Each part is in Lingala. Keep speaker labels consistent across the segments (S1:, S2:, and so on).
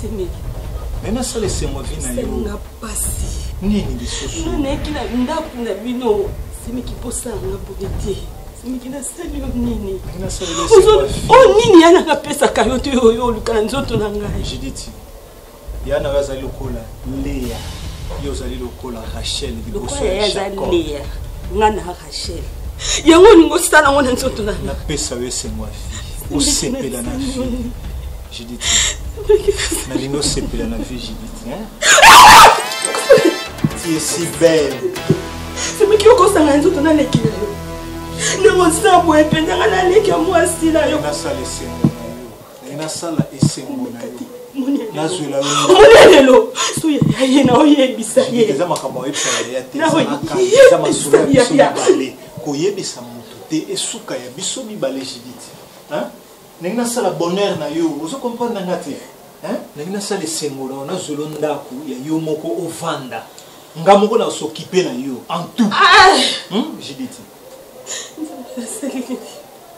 S1: Semeki. Mais na sala
S2: esengo vie na yo. Senga pasi.
S1: Nini lisusu?
S2: Nga nayaki na ndako
S1: na bino. Semeki posa nga boye te. Semeki nasali yo nini? Nasali yo esengo
S2: ya vie. Oh nini yana
S1: kapesaka yo te oyo oluka na nzoto na ngai. Judith.
S2: Yana yo azali lokola Lea. Yo ozali lokola Rachel liboso ya Jacob. Lokola ya Lea. Nga
S1: na Achille. yango olingi osala yango na nzoto na napesa yo esengo ya
S2: fille osepela na fille judith nalingi osepela na fille judith tu es si belle semeki
S1: okosanga nzoto naleki na yo ndenge osa boye mpenza nga naleki ya mwasi na yo nasala esengo
S2: naye nasala esengo na yo nazwela yomonelelo
S1: so yaya ye na oyebisa ye eza makambo oyebisa yaya
S2: te eza masolo ya biso mibale koyebisa moto te esuka ya biso mibale jidite ndenge nasala bonheur na yo ozo comprendre nanga te ndenge nasala esengo na yo nazwelo ndako ya yo moko ovanda nga moko nasokipe na yo en tout ah! hmm, jidite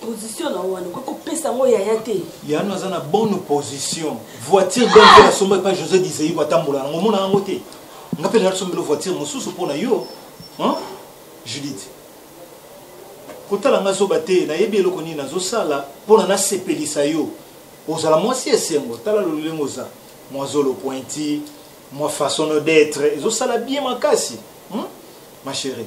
S2: position
S1: na wana okoki kopesa yango yaya te yano aza na bonne
S2: position voiture donc ah! asomba epa josé diseibo atambola nango omona yango te nga mpe nasombelo voiture mosusu mpo na yo judith kotala nga zoba te nayebi eloko nini nazosala mpo na nasepelisa yo ozala mwasi esengo tala lolenge oza mwa zolo pointi mwa façon d'être ezosala bien makasi hmm? ma chérie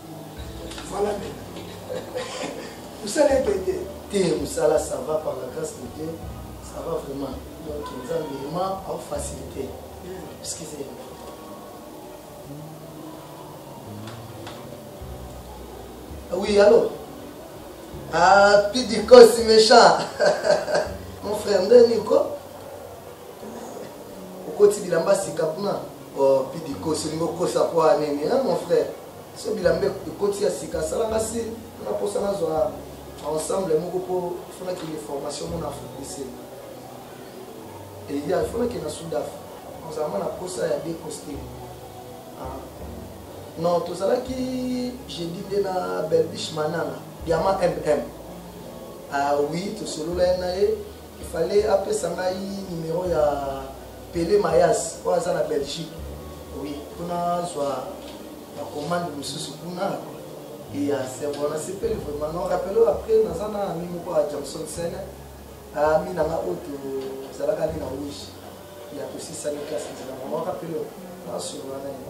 S3: Voilà musala ebende te musala ça va
S4: par la grâce de Dieu ça va vraiment donc nzambe ema au facilité
S5: excusez ah oui allô ah pidiko si méchant mon frère nde niko okoti bilamba sika kuna oh pidiko solingo kosa kwa nini hein mon frère so bilamba ekoti ya sika asala nga si nga mposa nazwa ensemble moko mpo fo nakende formation mona afrique du sud eya fo nakende na sud afrique ozalama na mposa ya decoste ah. non tozalaki jeudi nde na belbiche manana diama mm ah oui tosololai na ye Il fallait apesa ngai numero ya Pele Mayas oyo aza na Belgique. Oui, kuna azwa ba commande mosusu kuna et ya serbo nasepeli vraiment non rappelo après naza na ami moko ya Johnson Sene ami nanga oyo tozalaka ni na rouge ya tosisani classe nzela mama rappelo nasolola na ye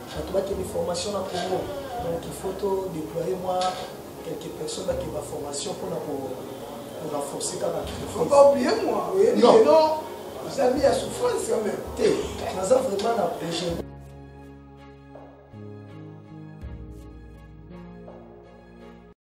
S5: bato bakende formation na congo donc il faut to déployer mwa quelques personnes bakende baformation mpona korenforce kaka
S3: ozali ya souffrance quand même te naza vraiment
S5: na projet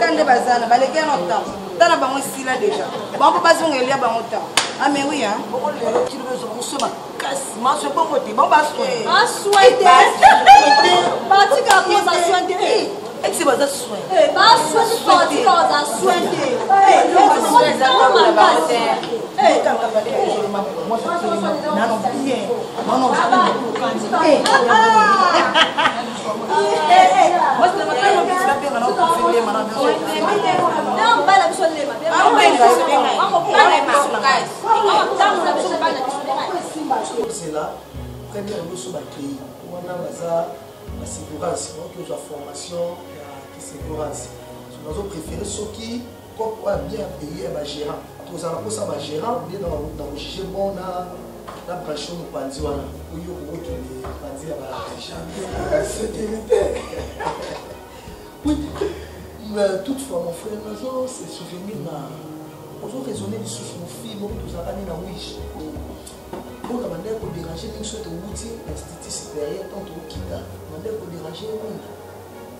S4: ta nde bazana baleki ya no temps ta na bango esila deja bango mpo bazonga elia bango temps ame ah, wi a okolelo kilo ezwa moso makasi maso ebongo te bango baswete esi baza soin nano
S5: bien kozela première biso bakei wana baza basecourance oyo tozwa formation ya kisecourance bazo préféré soki Coop oyo bien payé ya ba gérant. Tozala kosa ba gérant nde na na juge bon na na branche mopanzi wana oyo kokokende panzi ya ba agent sécurité.
S3: Oui,
S5: mais toutefois mon frère nazo se souvenir na ozo raisonner lisusu mofii moko tozalaka nde na wish mpona bandaki koderange mingi soki towuti na institut supérieur ntango tokokita bandaki koderange ye mingi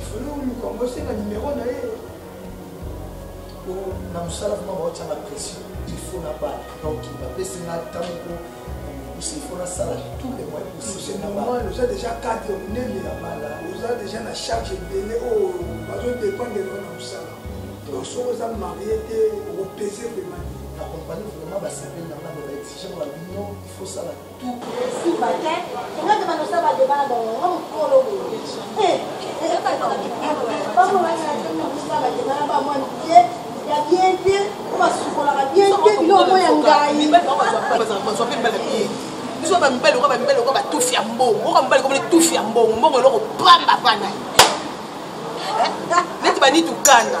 S3: ifole oluka yango esenga nimero na ye po
S5: na mosala vraimen baotyanga pression ilfo na bana donki bapesi nga ntango po kokusa ifo nasala tout le moyen possible oza déjà
S3: cadre monene ya bala oza déjà na charge ebele oyo bazodépendre na mosala donc soki oza marie te okopese vraimen na compagnie vraimen
S5: basepeli na nga baexige babino ifo sala
S6: biso bamibali
S7: lokola bamibali lokola batufi ya mbongo oka mibali komona tufi ya mbongo mbongo eloko pamba pana neti banitukana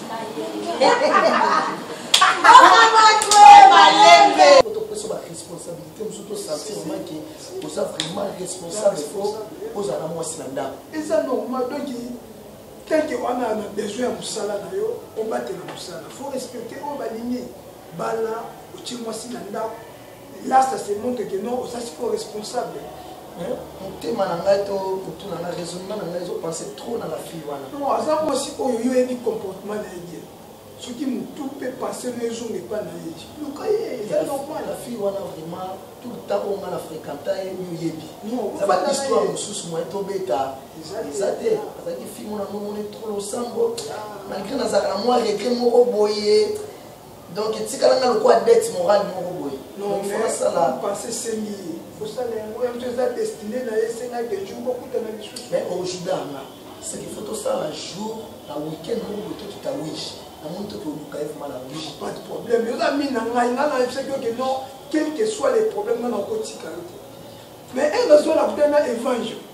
S5: topesa baresponsabilité mosusu tosentir mamake oza vraiment responsable fo ozala na mwasi na ndako eza
S3: normal donc tanke wana na besoin ya mosala na yo obatela mosala fo respecte oyo balingi bala otie mwasi na ndako là ça se montre que non oza sikoyo responsable
S5: motema na ngai to motu na ngai raisonnement na ngai ezopense trop na bafille wana non aza mwasi oyo
S3: yo oyebi comportement na ye bien soki motu mpe pense no ezonga epa na ye luka ye eza normal la fille wana vraiment
S5: tout le temps oyo nga na fréquenta ye miyoyebi eza bahistoire
S3: mosusu
S5: moye tobeta eza te azalaki fille mona nomoni trop losambo malgré nazalaka na mwa regret moko boye donc etikala nga lokola dette morale moko boye nonfasala
S3: pense esengi ye kosala yango yango eza destine na ye esengaki jour bokutana lisusu mais ojida nga
S5: seki fo tosala jour na weekend moko boye tokita wish namoni toke oluka ye vraimen na
S3: wish pas de problème yoza mini na ngai nga nayebisaki oke non quelque soit les problème nga nakotika yo te mais enge azwa na kuta na evangile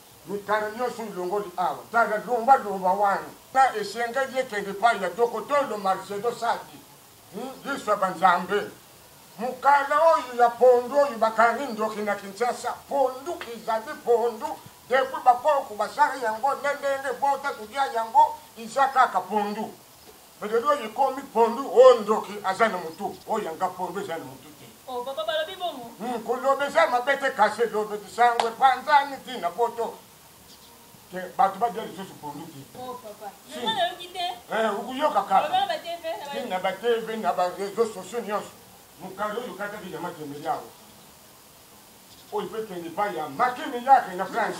S8: Mikano nionso olongoli awa, tala lomba lomba wana ta esengeli ekende epayi ya Dokotolo Marcedo Sadi, hum lisu ya ba nzambe. Mukala oyo ya pondu oyo bakangi ndoki na Kinshasa, pondu ezali pondu depuis ba koko basala yango nde ndenge ebota kolia yango iza kaka pondu. Balobi oyo ekomi pondu o oh, ndoki aza na mutu oyo oh, yanga pondu eza na mutu te o oh, papa balobi
S6: bongo hmm, koloba eza mabe
S8: te kasi elobeli sango epanzani ti na poto te bato badia lisusu pondu te
S6: okoyoka kaka
S8: ti
S6: na batv na
S8: bareseau sociaux nyonso mokanda oyo okataki ya makemeli awa oyo mpe kende epai ya makemeli yake na france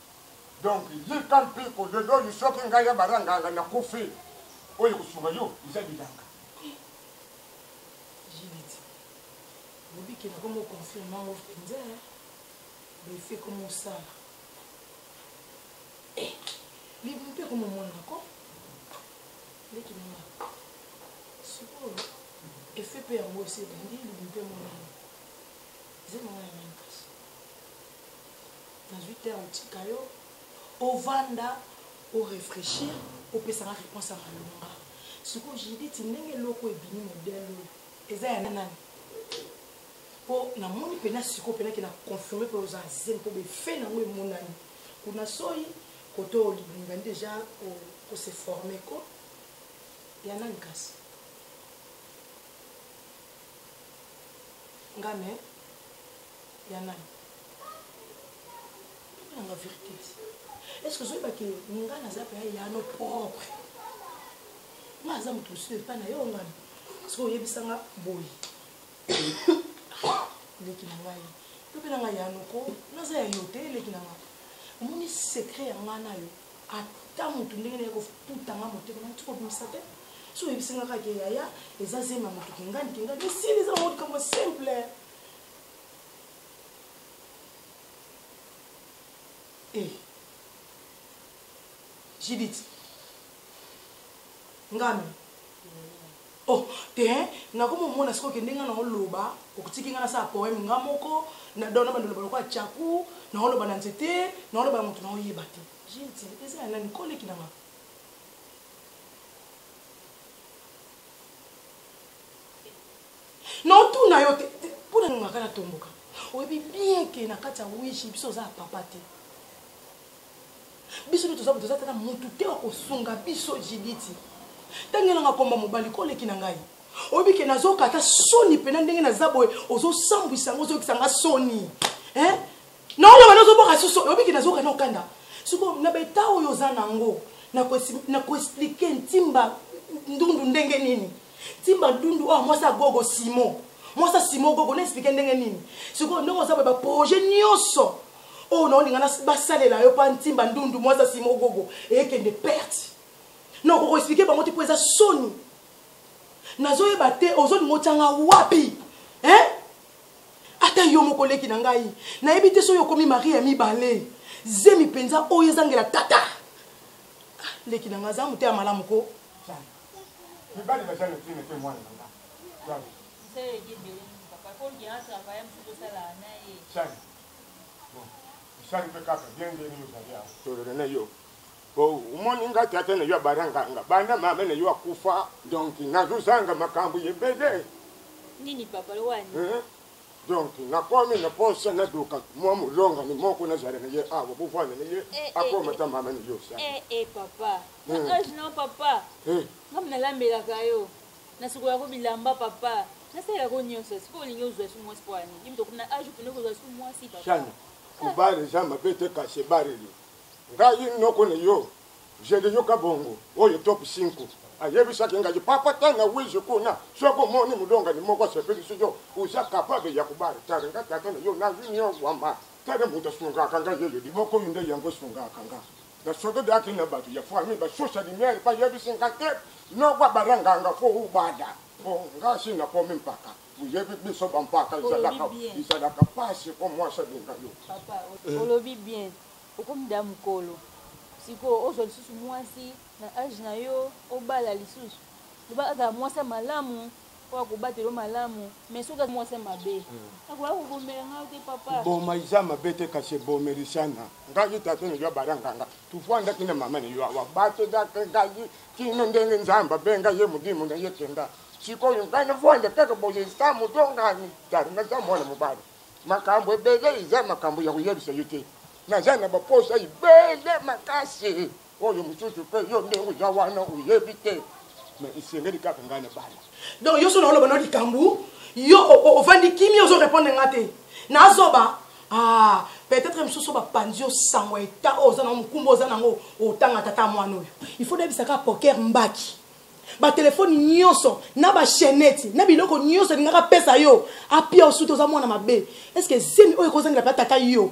S8: Donc yika mpiku lelo oyo soki ngai ya bara nganga na kufi oyo kosunga yo eza bilanga.
S1: JBT lobi ke na komo confirme yango penza ba effet komo osala eh libu mpe komo mona na ko leki na nga sikoyo effet mpe yango esi ebandi libu mpe mona yango eza na nga ya mani kasi Nazui terme tika yo ovanda o refrechir opesa nga reponse ya malonga. Sikoyo Judith ndenge eloko ebimi modèle oyo eza ya nani? Po namoni pena sikoyo pena ke na confirmer pe oza zemi po be fait nango emonani. Kuna soyi koto olibinga deja ko se former ko ya nani kasi? nga me ya nani nanga verité est ce que ozoyeba ke nga naza mpe yano propre nga aza moto mosusu epai na yo ngana soki oyebisanga boye leki na ngai yo mpe na ngai yanoko naza ya yo te leki na ngai omoni secret ya ngai na yo ata mutu ndenge naye kofuta nga motema na tiko bimisa te so oyebisi nga kaka ke yaya eza zemi ya motu kingani kingani esili eza bango likambo simple eh. jidit ngami Oh tein nako momona sikoyo kende nga nao loba okotiki nga nasala poème nga moko na dona bando loba lokola chaku nao loba na nzete nao loba na moto nao yeba te jeti eza ya nani ko leki na nga nao tuna yo te mpo na ningaka na tomboka oyebi bien ke na kati ya wishi biso oza ya papa te biso nde toza toza tata mutu te wa kosunga biso jiditi ntangi elanga komba mobali ko oleki na ngai oyebi ke nazoka ata soni mpena ndenge naza boye ozosambwisa yango ozoyokisa nga soni eh? naoloba nde ozoboka suso oyebi ke nazoka na okanda siko na beta oyo oza na yango na koexplike ntimba ndundu ndenge nini timba ndundu oyo mwasi ya gogo simo mwasi ya simo gogo na explike ndenge nini sikoyo ndenge oza boye baprojet nyonso oyo naolinga basalela yo mpa ntimba ndundu mwasi ya simo gogo eyekende perte na okoki koexplike bango te mpo eza soni nazoyeba te ozolinga otyanga wapi eh? ata yo moko leki na ngai nayebi te soki okomi marie ya mibale zemi mpenza oyo ezangela tata ah, leki na ngai aza moteya malamu ko
S8: mibali baza na ntina te mwana
S6: na nga
S8: osali mpe kaka bien ndenge ozali awa tolona na yo po omoni nga tata na yo abaranganga banda mama na yo akufa donk nazozanga makambo ebele nini
S6: papa lowani donc
S8: nakomi na posa naduka mwa molongani moko nazala na ye awa bovanda na ye akoma ta mama na yo sa na
S6: hmm. age na papa hmm. nga nalambelaka yo nasukolako bilamba papa nasalelako nyonso sikoyo olingi ozwa su mwasi mpo ani yimto na age okende kozwa su mwasi papa kobare
S8: eza mabe te kasi ebareli ngai noko na yo jende yoka bongo oyo top 5 ayebisaki ngai papa tanga wizi kuna soki omoni molongani moko asepelisi yo oza kapable ya kobare tare nga tata na yo na union wama tare moto asungaka ngai yeyo liboko oyo nde yango esungaka ngai na soto de akili na bato ya famille ba sosa lumière ba yebi singa te no kwa bara nganga fo u bada po nga si na komi mpaka uyebi biso ba mpaka izalaka izalaka pasi po mwasa linga yo papa eh. olobi
S6: bien okomi da mukolo sikoyo ozwa lisusu mwasi na age na yo obala lisusu loba azala mwasi ya malamu oyo akobatela yo malamu mais soki mwasi ya mabe hmm. akoya kobomela
S8: ngai te papa boma eza mabe te kasi ebomelisana ngai tata na yo abalanganga tofandaki na mama na yo awa batozaka ngai kino ndenge nzambe abenga ye modimu na ye kenda sikoyo ngai nafanda kaka boye sa moto ngani tari naza mwana mobali makambo ebele eza makambo ya koyebisa yo te naza na baposa ebele makasi oyo mosusu mpe yo nde oza wana oyebi te me esengeli kaka ngai na bana donc yo so naoloba na
S1: likambo yo ovandi kimia ozo répondre nga te nazoba ah peut-être mosusu bapanzi yo sango ya eta oyo oza nango mokumba oza nango otanga tata mwana oyo il faut nayebisa kaka poker mbaki batelefone nyonso na bachenete na biloko nyonso elingaka apesa yo apia osuti oza mwana mabe estce zemi oyo ekozangela mpe ataka yo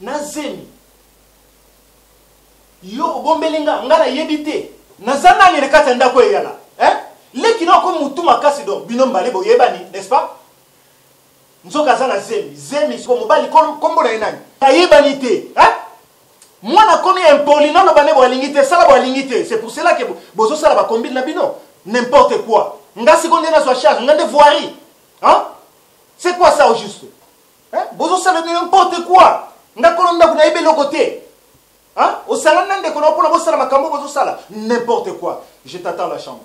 S2: na zemi yo obombeli nga nga nayebi te naza nani na kati ya ndako eyala eh? leki na okomi motu makasi donc bino mbale boyebani n'est-ce pas nzoka aza na zemi zemi siko mobali kombo na ye nani ayebani te eh? mwana akomi impoli naloba nde boalingi te sala boalingi te c'est pour cela ke bozosala bakombile na bino n'importe quoi nga siko nde nazwa charge nga nde voirie hein? c'est quoi ça au juste Hein? Bozo sala n'importe quoi. Nga kono ndaku na yebe loko te. Hein? Osangani na ndeko na pona bosala makambo bozo sala n'importe quoi. Je t'attends la chambre.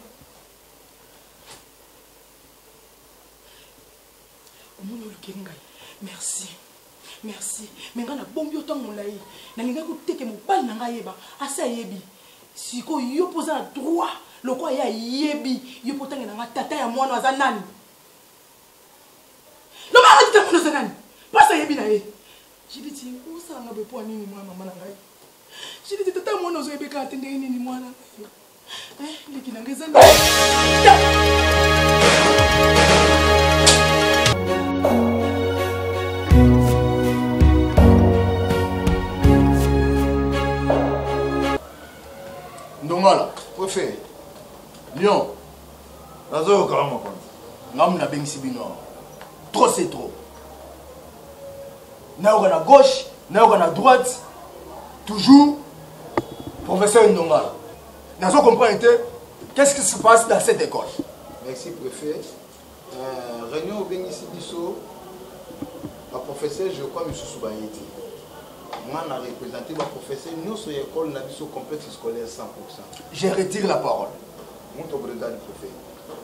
S1: Omoni olukeli ngai. Merci. Merci. Mais nga na bombi otango molayi. Na lingai ko teke mobali na ngai yeba. Asi ayebi. Siko yo poza na droit. Loko ya yebi. Yo potangi na nga tata ya mwana aza nani? lobaka tita mwana oza nani mpasi ayebi na ye jiditi osalanga boye mpo ya nini mwana mama na ngai jiditi tata mwana ozoyebeka te ndenge nini mwana eh, leki nanga eza
S5: ndongala ofe lion
S2: nazoyoka yo mokonzi ngamu nabengisi
S5: bino awa trop c'est trop nayoka na gauche nayoka na droite toujours professeur ndongala nazo comprendre te qu'est-ce qui se passe dans cette école merci préfet
S9: euh, réunion obengisi biso baprofesseur je crois misusu baye te nga na représente baprofesseur nyonso ya ekole na biso complexe scolaire 100 je retire
S5: la parole Moto Breda du
S9: Prophète.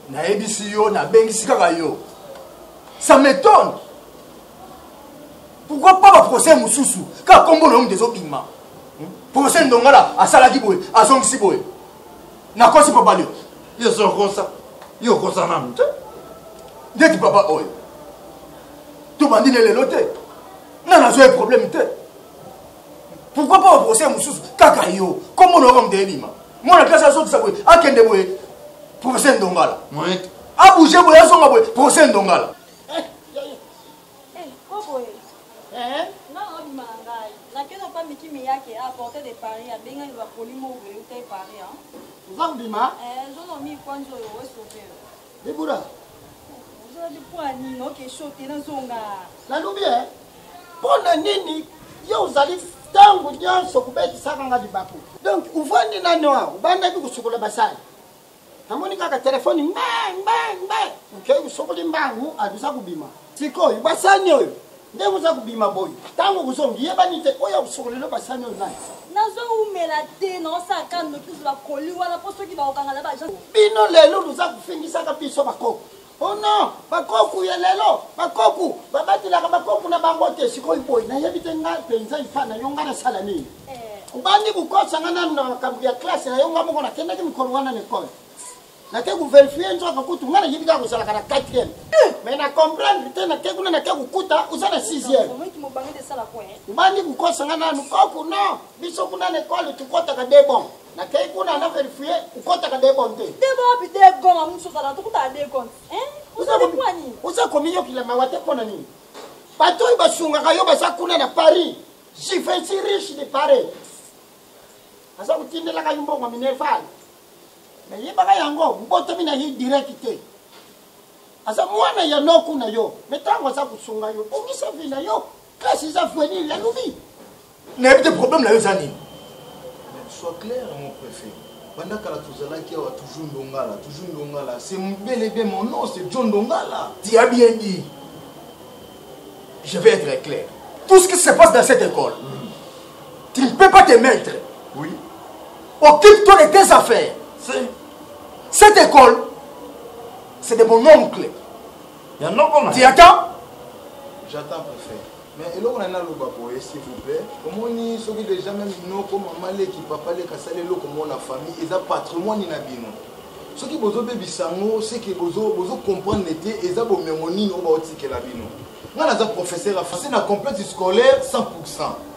S9: Nayebisi
S5: yo, nabengisi kaka yo. Ça m'étonne. Pourquoi pas ba procès mosusu? Kaka kombo na yo moto ezobima. Hmm? Procès Ndongala asalaki boye, azongisi boye. Nakosi papa leo. Yo zokosa.
S2: Yo okosa nanu te.
S5: Ndeti papa oyo. Tobandi ne lelo te. Nana azwa ye problème te. pourquoi pas baprocès mosusu kaka yo kombo na yoka moto ebima mwana klase azokisa boye akende boye procès ndongala abouge boye azonga boye procès ndongala
S6: ozandima Libura. Ozala lipua nini oke shote nazonga. Nalobi eh
S4: mpo na nini yo ozali ntango nyonso kobetisaka nga libaku donc ovandi nani wa obandaki kosukola basali namoni kaka telefoni mbe mbe mbe okei kosokoli mbangu alusa kobima sikoyo basani oyo nde oza kobima boye ntango okozongi yebani te oyo akosokolelo basani oyo nani nazowumela
S6: te naosala ka noki ozwa koli wana mpo soki bakokanga na baagence bino lelo
S4: luza kofingisaka biso bakoko o oh non bakoku ya lelo bakoku babatelaka bakoku na bango te sikoyo boye nayebi te ngai mpenza ipa na yo ngai nasala nini eh. obandi kokosa ngai nanu na makambo ya klase na yo ngai moko nakendaki mikolo wana na ekole nake koverifie nzoka kutu ngai nayebi kaka kozalaka na 4 mais na comprendre te nake kuna nake kokuta oza na 6
S6: obandi kokosa ngai
S4: nanu koku no biso kuna na ekole tokotaka de bon nakei kuna na verifie okotaka de bon te
S6: oza
S4: komiyokila mawa te mpo na nini bato oyo basungaka yo baza kuna na paris jivensi riche de paris aza kotindelaka yo mbongo minerval nayebaka yango mbotomi na ye direct te aza mwana ya noku na yo me ntango aza kosunga yo bongisa vi na
S5: yo
S4: klasi
S5: eza
S4: venir
S5: ya
S4: lobi nayebi te
S5: problème
S4: na yo eza
S5: nini
S9: soit clair mon préfet banda kala tozalaki awa toujours ndongala toujours ndongala c'est bel et bien mon nom c'est john ndongala tu as bien dit
S5: je vais être clair tout ce qui se passe dans cette école tu ne peux pas te mettre oui occupe-toi de tes affaires cette école c'est de mon oncle
S2: tu attends
S5: j'attends
S9: préfet mais eloko na ngai naloba boye s'il vous plaît omoni soki déjà meme inoko mama leki papa leki asali eloko mona famille eza patrimoine na bino soki bozo bebisa ngo seke bozo bozo comprendre te eza bomengo nini oyo baotikela bino ngai naza professeur ya français na complexe scolaire 100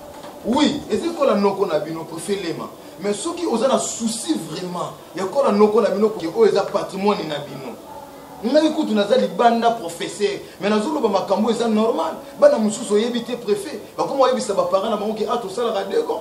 S9: oui eza ekola noko na bino kofelema mais soki oza na souci vraiment ya kola noko na bino koke oyo eza patrimoine na bino ngai kutu naza libanda professeur mais nazoloba makambo eza normal bana mosusu oyebi te préfet bakoma oyebisa baparent na bango ke a ah, tosalaka dego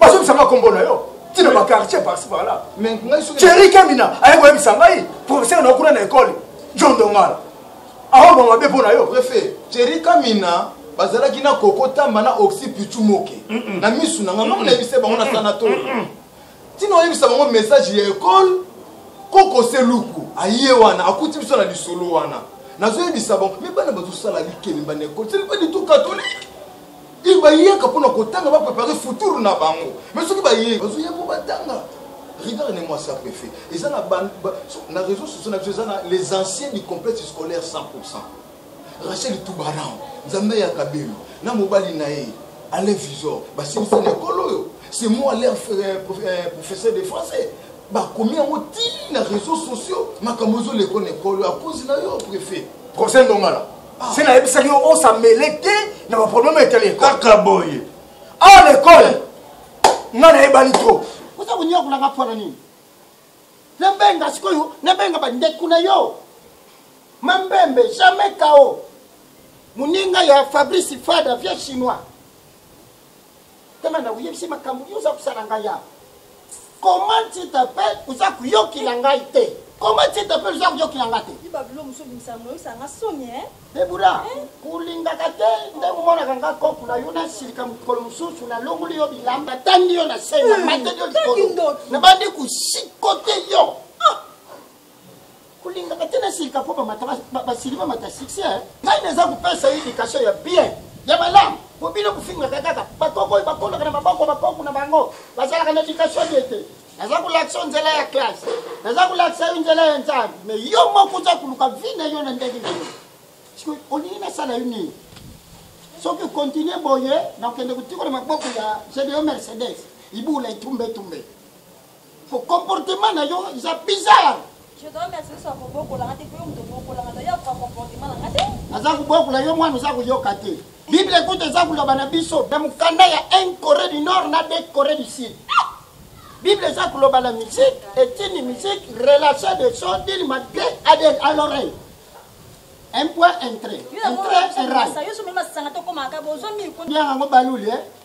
S5: bazobisanga nkombo na yo ntina baquartier parci par là ceri
S9: kamina
S5: aye koyebisa ngai professeur na kuna na ekole john dongala aoba mabe mpo na yo prefe ceri
S9: kamina bazalaki na koko tamba na oxy pichu moke na misu na ngai ngai nayebisa bango na sanatori ntina oyebisa bango message ya ekole koko se luku aye wana akuti biso na lisolo wana nazoyebisa bango me bana bazosala likemba na ekole selipa litu katolike il bayaka mpona kotanga ba préparer futur na bango mais soki baye bazoya mpo batanga regarde ne moi ça préfet eza na na réseau sociaux na biso eza na les anciens du complexe scolaire 100 rachel tubaran nzambe ya kabelo na mobali na ye alain visor basilisa na ekolo oyo c'est moi leur euh, euh, professeur de français bakomi yango ti na réseau sociaux makambo ezoleko na ekolo akozi na yo préfet conseil ndongala
S5: se nayebisaki yo osamele te na baproblème etali ekole kaka boye
S2: awa na
S5: ekole nga nayebani trop oza konyokolanga
S4: mpo na nini nabenga sikoyo nabenga bandeko na yo mambembe jamais kao moninga ya fabrice fada vieux chinois Kema na oyebisi makambo nini oza kosala ngai ya. Comment tu t'appelles oza kuyokila ngai te. Comment tu t'appelles oza kuyokila ngai te. Biba bilo musu bimisa
S6: moyo sanga soni hein. Debura,
S4: eh? kolingaka te nde omonaka nga kopo na yo nasilika mokolo mosusu nalongoli yo bilamba tangi yo na se na eh, mateli yo likolo nabandi kosikote yo kolingaka te nasilika mpo bamata basili bamata succès eh. ngai naza kopesa ye éducation ya bien ya malamu mpo bino kofingaka kaka bakoko oyo bakolaka na maboko bakoko na bango bazalaka na éducation te te naza kolakisa yo nzela ya classe naza kolakisa yo nzela ya nzambe me yo moko oza koluka vi na yo na ndenge nini sikoyo olingi nasala yo nini soki okontinue boye nakokende kotikola maboko ya jedeyo mercedes ibula etumbe etumbe Ko comportement na yo eza bizarre. Je dois merci
S6: so ko bokola ngate ko mto bokola ngate ya ko comportement na ngate. Aza ko bokola yo
S4: mwana oza ko yoka te. Bible ekuta eza koloba na biso na mokanda ya 1 Corée du Nord na 2 Corée du Sud. Bible eza koloba na musique, etini musique, relation de son dil malgré à des à l'oreille. Un point entrée. Entrée erreur. Yo so mema sanga to komaka bozo mi ko. Bien ngo balule.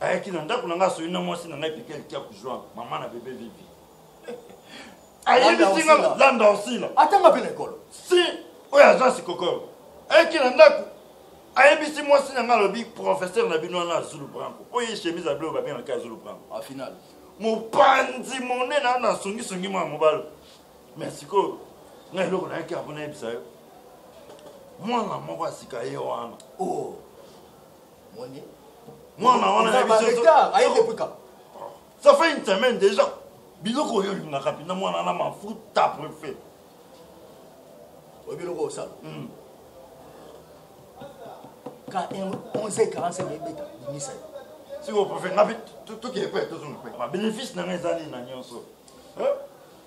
S2: ayaki na ndako na ngai asoyi na mwasi na ngai peke alikia kuzwa mama na bebe vivi ayebisi nga landa osila atanga mpe na ekolo
S5: si oyo
S2: aza sikokoro ayaki na ndako ayebisi mwasi na ngai alobi professeur na bino wana azulu branco oyo ye chemise ya bleu babengaka azulu branco a final
S5: mopanzi
S2: monene ana asongisongi mwa mobalo mais sikoyo na eloko nayaki yango nayebisa yo mwana moko asika ye wana oh.
S5: mwana
S2: wana ya biso
S5: ça fait
S2: une semaine déjà biloko oyo olingaka mpena mwana na mafuta prefet oyo
S5: biloko osala hmm. ka 11h45 ebeta bimisa ye
S2: sikoyo prefet ngapi tokeye mpe tozonga mpe babénéfice na ngai ezali na nyonso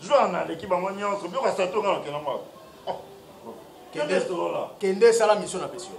S2: zwa na aleki bango nyonso biloko ya sato nga nakenda mwa oh, oh. kende solola
S5: kende esala misio na pesi yo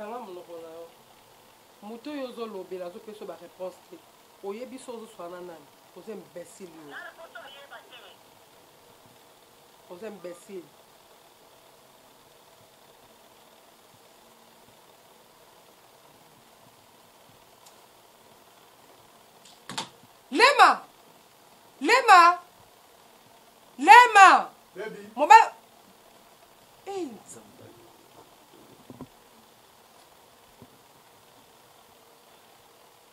S1: kanga monoko na yo moto oyo ozolobela azopesa ba réponse te oyebi so ozoswana nani oza imbécile yo oza imbécile lema lema
S5: lema mobali
S9: eh,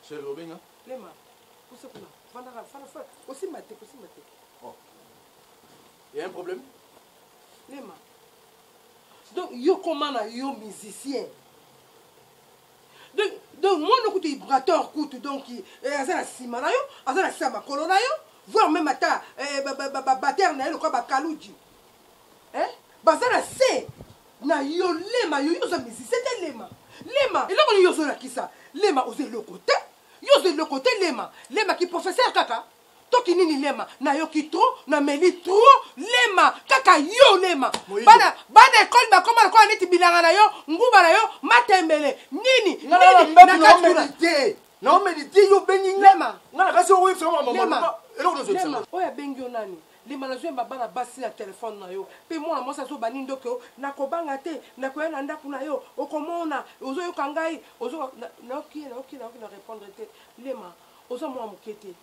S9: Chérie, obenga lema kusa
S1: kuna vandaka fana fana kosimba te kosimba te
S5: oh. ya un problème lema
S1: donc yo koma na yo musicien donc donc mwana kutu ibrator kutu donc eh, aza na nsima na yo aza na nsima makolo na yo voir meme ata eh, babatere na ye lokola bakaluji eh, baza na se na yo lema yo yo oza musicien te lema lema eloko nini yo ozolakisa lema oza eloko te yo oza eloko te lema lema ki professeur kaka toki nini lema nayoki trop nameli trop lema kaka yo lema bana, bana ekole bakoma lokola neti bilanga na yo nguba na yo matembele nini nini
S5: naomeli te yo obengi lema nga na kasi
S1: okoyebisa nga
S5: makambo eloko nozokisanga oyo
S1: abengi yo nani lima nazwi yamba bana basi na telefone na yo mpe mwana mwasi azoba nini ndoki yo nakobanga te nakoya na ndako na yo okomona ozoyoka ngai nayoki nayoki nayoki na répondre te lema oza mwa moke te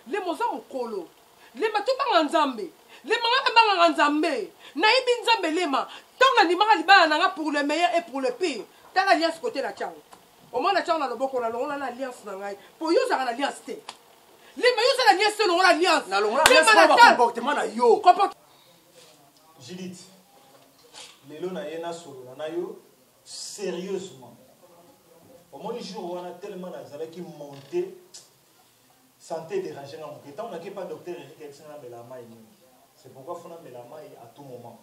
S1: lema oza mokolo lema tobanga nzambe lema nga nabangaka nzambe nayebi nzambe lema ntango nandimaka libala na nga pour le meilleur et pour le pire tala alliance kote na tiango omona tiango na loboko nalongola na alliance na ngai mpo yo ozalaka na alliance te lema yo oza na alliance te olongola alliance comportement
S3: na yo
S2: judith lelo na ye nasolola na yo Serieusement. Omoni jour wana tellement nazalaki monte santé dérange nga moke ntango nake pa docteur erike ayebisi nga namela mai mingi c'est pourquoi fo namela mai à tout moment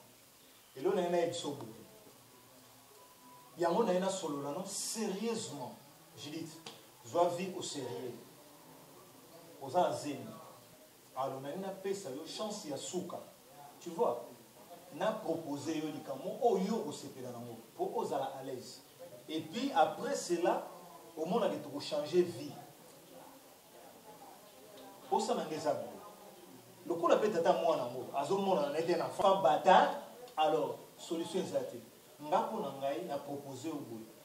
S2: elo na ye nayebisa oboye yango na ye nasolola no sérieusement judith zwa vie au sérieux oza na zemi Alo nalingi napesa yo chance ya suka tu vois na proposer yo likambo moko oyo yo okosepela nango mpo ozala à l'aise et puis après cela omona ke tokochanger vie posa na nga eza boye lokola mpe tata mwana yango azomonana na ete na fa bata alors solution eza te nga mpo na ngai na propose yo boye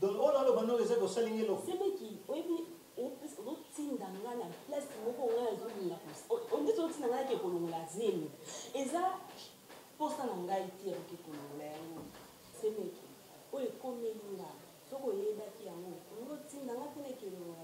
S10: Donc oyo
S2: naloba noko eza kosali nga eloko. Semeki oyebi
S10: ozotinda nga na place moko nga nazolinga ondeti ozotinda nga nake kolongola zemi eza mposa na ngai te ya koke kolongola yango semeki oyo ekomeli nga soki oyebaki yango olingi otinda nga te nake kolongola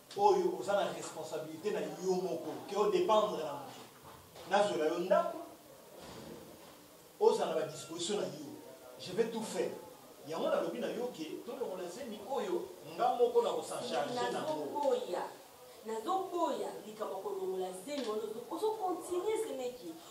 S2: oyo oza na responsabilité na yo moko ke o dépendre na moto nazwela yo ndako ozala ba disposition na yo je vais tout faire yango nalobi na yo ke tolongola zemi oyo nga moko na kosancharge nango
S10: nazoboya likambo kolongola zemi wana ozokontinue semeki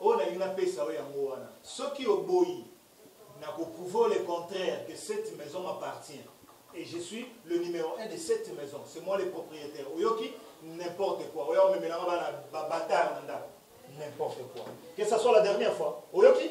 S10: Oyo nalingi napesa
S2: yo yango wana. Soki oboyi, nako prouver yo le contraire que cette maison m'appartient et je suis le numero un de cette maison. C'est moi le proprietaire. Oyoki? N'importe quoi. Oya omemela nga bana ba bâtard na ndako. N'importe quoi. Que ça soit la dernière fois. Oyoki?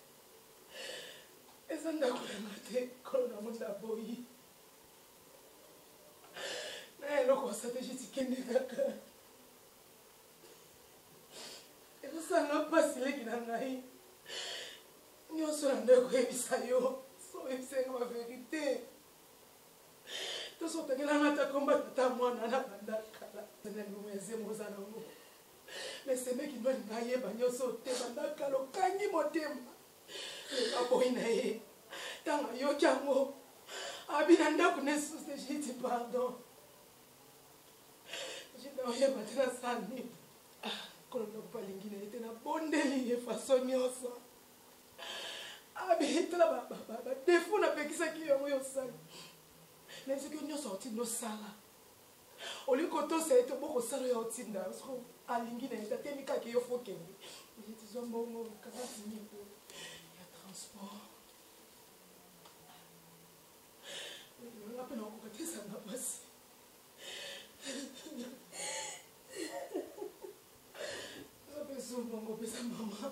S1: eza ndako ya nga te kolo na moni naboyi na eloko strategie tikende kaka ekosanga mpasi leki na ngai nyonso na ndako koyebisa yo soyebisa nga baverité tosotangelanga ata kombata ata mwana na bandakala na limo ya zemo oza nango Mais c'est mec qui doit naye ba nyoso te banda kalo kangi motema. Ba boy na ye. Tanga yo kyango. Abina ndaku ne sous je dis pardon. Je dois ye batela sani. Ah, kono ndaku palingi na ete na bondeli ye façon nyoso. Abi tala ba ba ba défaut na pekisa ki yo yo sali. Na ce que nyoso otino sala. olingi kotosa ye to bokosala oyo aotinda yo soko alingi na leta te mikaka yo fokende oye tizwa mbongo kaka timi po ya transport nga mpe nakokoka te ezanga mpasi oza mpe zwa mbongo pesa mama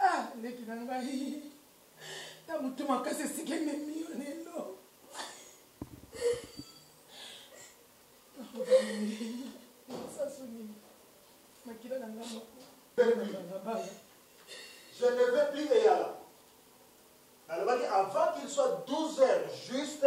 S2: Ah, leki na ngai na motu makasi esika ememi yo lelo sasu nini makila na ngai moko balabala je ne veux plus eyala nalobaki avant qu'il soit 12 heures juste